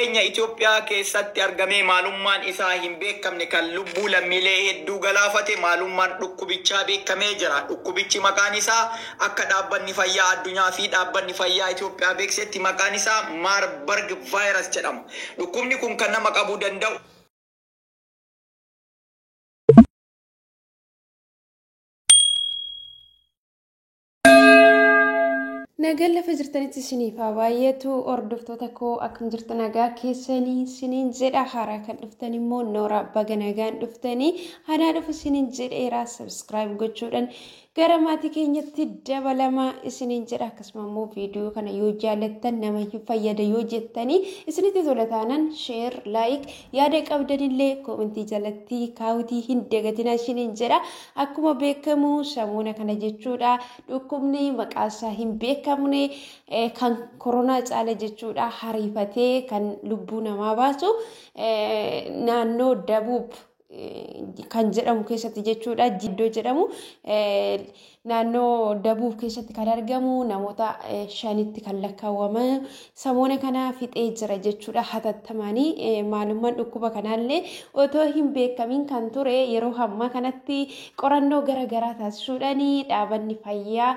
keenya Itoophiyaa keessatti argamee maalummaan isaa hin beekamne kan lubbuu lammiilee hedduu galaafate maalummaan dhukkubichaa beekamee jira. Dhukkubichi maqaan isaa akka Dhaabbanni Fayyaa Addunyaa fi Dhaabbanni Fayyaa Itoophiyaa beeksisetti maqaan isaa Marburg Virus jedhama. Dhukkubni kun kan nama qabuu danda'u. Nagaan lafa jirtanitti isiniif haa baay'atu hordoftoota koo akkam jirtu nagaa keessanii isiniin jedha haaraa kan dhuftan immoo nooraa baga nagaan dhuftanii haadhaa dhufu isiniin jedheeraa sabskiraayib gochuudhaan gara maatii keenyatti dabalamaa isiniin jedha akkasuma immoo viidiyoo kana yoo jaallattan nama hin fayyada yoo jettanii isinitti tola taanaan sheer laayik yaada qabdanillee koomentii jalatti kaawutii hin dagatinaa isiniin jedha Akkuma beekamu samuuna kana jechuudha dhukkubni maqaansaa hin beekamne eh, kan koronaa caala jechuudha hariifatee kan lubbuu namaa baasu eh, naannoo dabuub eh, kan jedhamu keessatti jechuudha jiddoo jedhamu eh, naannoo dabuub keessatti kan argamu namoota eh, shanitti kan lakkaawwaman samoona kana fixee jira jechuudha hatattamaanii maalummaan dhukkuba kanaallee otoo hin beekamiin kan ture yeroo hammaa kanatti qorannoo gara garaa taasisuudhaan dhaabanni fayyaa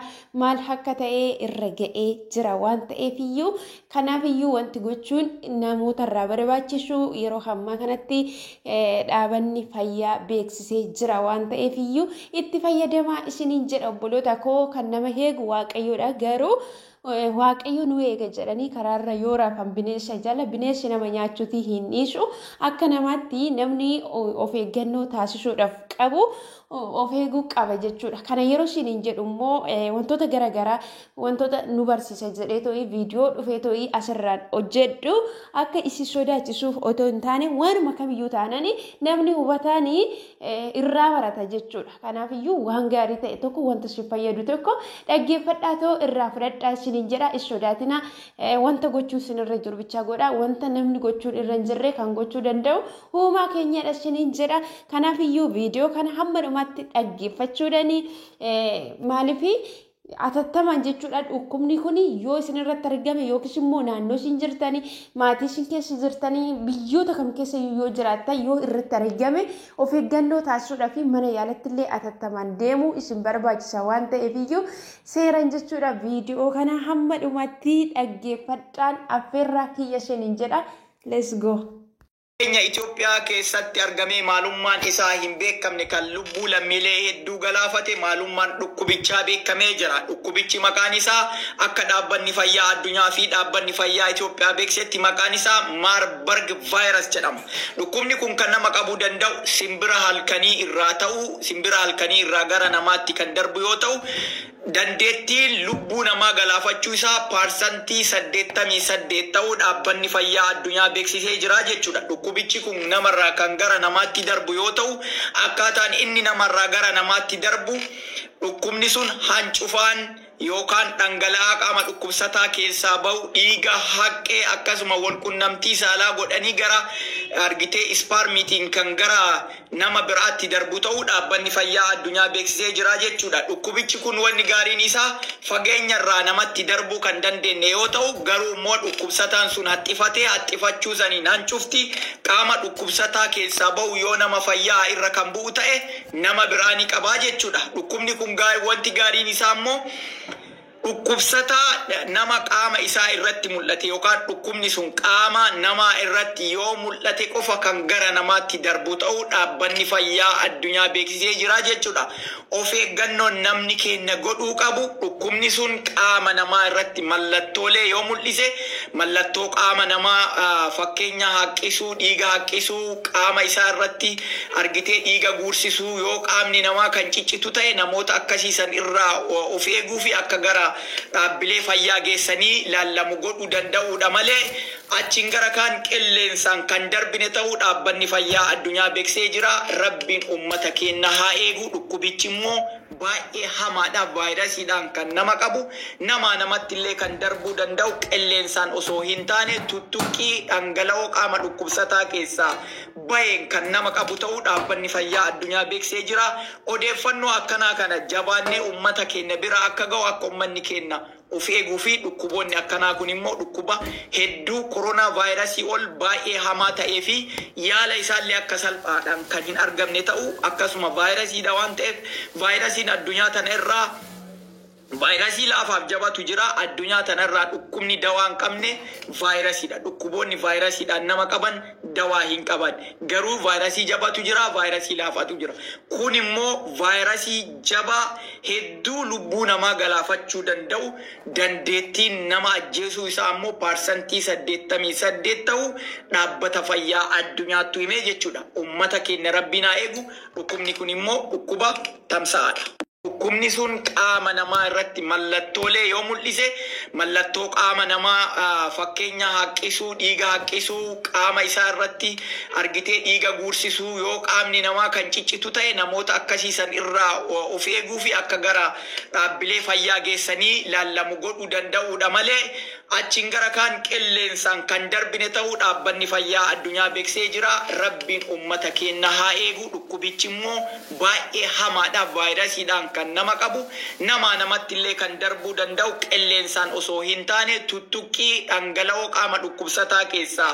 maal akka ta'e irra ga'ee jira waan ta'eef iyyuu kanaaf iyyuu wanti gochuun namoota irraa barbaachisu yeroo hammaa kanatti dhaabanni fayyaa beeksisee jira waan ta'eef iyyuu itti fayyadamaa isiniin jedha obboloota koo kan nama heegu waaqayyoodha garuu waaqayyo nu eega jedhanii karaarra yoo rafan bineensa jala bineensi nama nyaachuutii hin dhiisu akka namaatti namni of eeggannoo taasisuudhaaf qabu of eeguu qaba jechuudha. Kana yeroo siin hin jedhu immoo wantoota garaagaraa wantoota nu barsiisa jedhee to'ii viidiyoo dhufee to'ii asirraan hojjedhu akka isin sodaachisuuf otoo hin taane waanuma kamiyyuu taanani namni hubataanii irraa barata jechuudha. Kanaaf iyyuu waan gaarii ta'e tokko wanta isin fayyadu tokko dhaggeeffadhaa ta'uu irraa fudhadhaa isiniin jedha is sodaatina wanta gochuu isin irra jiru bichaa godha wanta namni gochuun irra hin jirre kan gochuu danda'u uumaa keenyadha isiniin jedha. Kanaaf iyyuu viidiyoo kana hamma dhumaatti dhaggeeffachuudhani maaliif Atattamaan jechuudha dhukkubni kun yoo isin irratti argame yookiis immoo naannoo isin jirtanii maatii isin keessa jirtanii biyyoota kam keessa yoo jiraattan yoo irratti argame of eeggannoo taasisuudhaa fi mana yaalatti illee atattamaan deemuu isin barbaachisa waan ta'eef iyyuu seeran jechuudha viidiyoo kana hamma dhumatti dhaggeeffadhaan affeerraa kiyya isiniin jedha let's go. keenya Itoophiyaa keessatti argamee maalummaan isaa hin beekamne kan lubbuu lammiilee hedduu galaafate maalummaan dhukkubichaa beekamee jira. Dhukkubichi maqaan isaa akka Dhaabbanni Fayyaa Addunyaa fi Dhaabbanni Fayyaa Itoophiyaa beeksisetti maqaan isaa Marburg Virus jedhama. Dhukkubni kun kan nama qabuu danda'u simbira halkanii irraa ta'uu simbira halkanii irraa gara namaatti kan darbu yoo ta'u Dandeettiin lubbuu namaa galaafachuu isaa paarsantii 88 ta'uu Dhaabbanni Fayyaa Addunyaa beeksisee jira jechuudha. Dhukkubichi kun namarraa kan gara namaatti darbu yoo ta'u, akkaataan inni namarraa gara namaatti darbu dhukkubni sun hancufaan yookaan dhangala'aa qaama dhukkubsataa keessaa ba'u, dhiiga, haqqee akkasuma walqunnamtii saalaa godhanii gara argitee ispaarmiitiin kan gara nama biraatti darbu ta'uu Dhaabbanni Fayyaa Addunyaa beeksisee jira jechuudha. Dhukkubichi kun wanni gaariin isaa fageenya irraa namatti darbuu kan dandeenne yoo ta'u garuu immoo dhukkubsataan sun haxxifatee haxxifachuu saniin hancufti qaama dhukkubsataa keessaa bahu yoo nama fayya'a irra kan bu'u ta'e nama biraa ni qabaa jechuudha. Dhukkubni kun wanti gaariin isaa immoo Dhukkubsataa nama qaama isaa irratti mul'ate yookaan dhukkubni sun qaama namaa irratti yoo mul'ate qofa kan gara namaatti darbu ta'uu Dhaabbanni Fayyaa Addunyaa beeksisee jira jechuu dha. Of eeggannoon namni keenya godhuu qabu dhukkubni sun qaama namaa irratti mallattoolee yoo mul'ise, mallattoo qaama namaa fakkeenya haqqisuu, dhiiga haqqisuu, qaama isaa irratti. argitee dhiiga guursisuu yoo qaamni namaa kan ciccitu ta'e namoota akkasii san irraa of eeguu fi akka gara dhaabbilee fayyaa geessanii laallamu godhuu danda'uudha malee achiin gara kaan qilleensaan kan darbine ta'uu dhaabbanni fayyaa addunyaa beksee jira rabbiin ummata keenna haa eegu dhukkubichi immoo baay'ee hamaadha vaayirasiidhaan kan nama qabu namaa namatti illee kan darbuu danda'u qilleensaan osoo hin taane tuttuqqii dhangala'oo qaama dhukkubsataa keessaa bayeen kan nama qabu ta'uu Dhaabbanni Fayyaa Addunyaa beeksee jira. Odeeffannoo akkanaa kana jabaannee ummata keenya bira akka ga'u akka ummanni keenya of eeguu fi dhukkuboonni akkanaa kun immoo dhukkuba hedduu Corona Virus ol baay'ee hamaa ta'ee fi yaala isaa illee akka salphaadhaan kan hin argamne ta'uu akkasuma Virus dha waan ta'eef Virus Addunyaa tana irraa Vaayirasii laafaaf jabatu jira. Addunyaa tana irraa dhukkubni dawaa hin qabne vaayirasiidha. Dhukkuboonni vaayirasiidhaan nama qaban dawaa hin qaban. Garuu vaayirasii jabatu jira, vaayirasii laafatu jira. Kun immoo vaayirasii jabaa hedduu lubbuu namaa galaafachuu danda'u, dandeettiin nama ajjeesuu isaa ammoo parsantii 88 ta'uu Dhaabbata Fayyaa Addunyaattu hime jechuudha. Ummata keenya Rabbiin haa eegu. Dhukkubni kun immoo dhukkuba tamsa'aadha. Dhukkubni sun qaama namaa irratti mallattoolee yoo mul'ise, mallattoo qaama namaa fakkeenya haqqisuu, dhiiga haqqisuu, qaama isaa irratti argitee dhiiga guursisuu, yoo qaamni namaa kan ciccitu ta'e namoota akkasii san irraa of eeguu fi akka gara dhaabbilee fayyaa geessanii laallamu godhuu danda'uu dha malee, Achiin gara kaan qilleensaan kan darbine ta'uu dhaabbanni fayyaa addunyaa beksee jira. Rabbiin ummata keenna haa eegu. Dhukkubichi immoo baay'ee hamaadha. Vaayirasiidhaan kan nama qabu, namaa namatti illee kan darbuu danda'u qilleensaan osoo hin taane tuttuqqii dhangala'oo qaama dhukkubsataa keessaa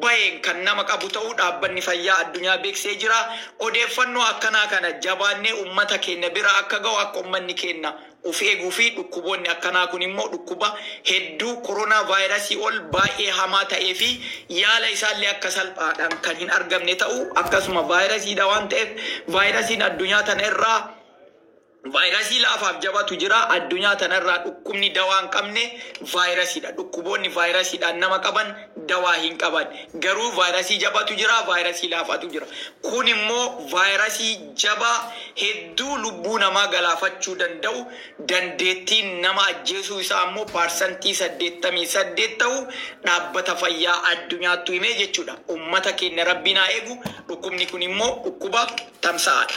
baheen kan nama qabu ta'uu dhaabbanni fayyaa addunyaa beksee jira. Odeeffannoo akkanaa kana jabaannee ummata keenna bira akka ga'u akka ummanni keenna Of eeguu fi dhukkuboonni akkanaa kun immoo dhukkuba hedduu koronaa vaayirasii ol baay'ee hamaa ta'ee fi yaala isaa illee akka salphaadhaan kan hin argamne ta'uu akkasuma vaayirasii dha waan ta'eef vaayirasiin addunyaa tana irraa vaayirasii laafaaf jabatu jira addunyaa tana irraa dhukkubni dawaa hin qabne vaayirasii dha dhukkuboonni vaayirasii dhaan nama qaban dawaa hin qaban garuu vaayirasii jabatu jira vaayirasii laafatu jira kun immoo vaayirasii jabaa hedduu lubbuu namaa galaafachuu danda'u, dandeettiin nama ajjeesuu isaa ammoo parsantii 88 ta'u Dhaabbata Fayyaa Addunyaattu hime jechuudha. Ummata keenya Rabbiin haa eegu, dhukkubni kun immoo dhukkuba tamsa'aadha.